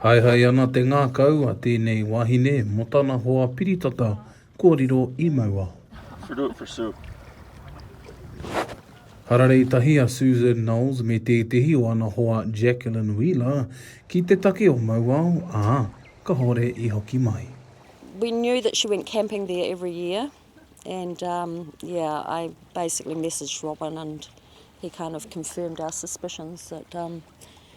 Haehae ana te ngākau a tēnei wahine mō tana hoa piritata kua riro i Mauao. Should do it for Sue. Hararei tahi a Susan Knowles me tētehi o ana hoa Jacqueline Wheeler ki te take o Mauao, ā, kahore i hoki mai. We knew that she went camping there every year and um yeah I basically messaged Robyn and he kind of confirmed our suspicions that um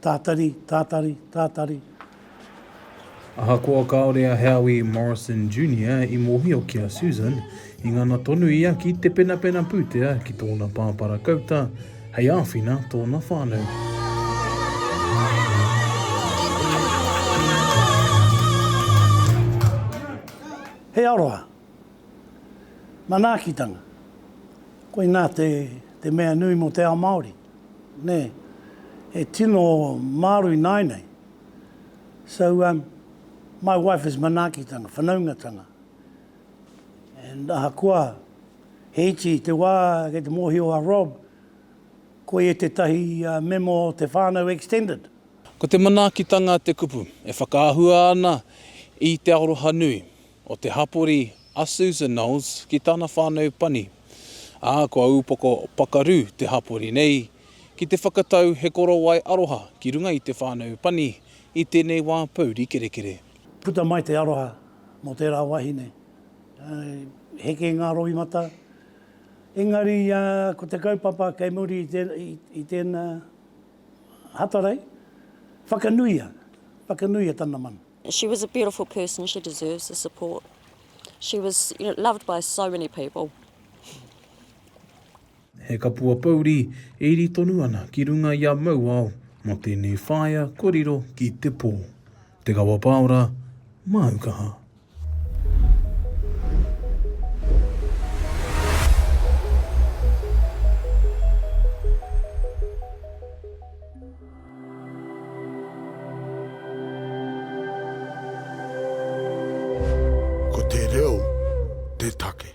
Tātari, tātari, tātari. Ahakoa kāore a Howie Morrison Junior i mōhio ki a Susan, i ngana tonu ia ki te penapena pūtea ki tōna pāpā rakauta hei āwhina tōna whānau. He aroha. Manaakitanga. Koinā te, te mea nui mō te ao Māori. Nē, e tino māro ināianei. So, um, my wife is manaakitanga, whanaungatanga. And ahakoa he iti te wā kei te mōhio a Rob, ko ia tētahi uh, memo o te whānau extended. Ko te manaakitanga te kupu e whakaahua ana i te aroha nui, o te hapori a Susan Knowles ki tana whānau pani, ā, kua upoko pakaru te hapori nei ki te whakatau he korowai aroha ki runga i te whānau pani i tēnei wā pouri kerekere. Puta mai te aroha mō tērā wahine, i heke ngā roimata, engari ko te kaupapa kei muri i tēnā hatarei, whakanuia, whakanuia tana mana. She was a beautiful person, she deserves the support. She was you know, loved by so many people. He kapua pouri e iri tonu ana ki runga i a Mauao mo tenei whaea kua riro ki te po. Te Kawa Paora, Māu Kaha. Ko te reo te take.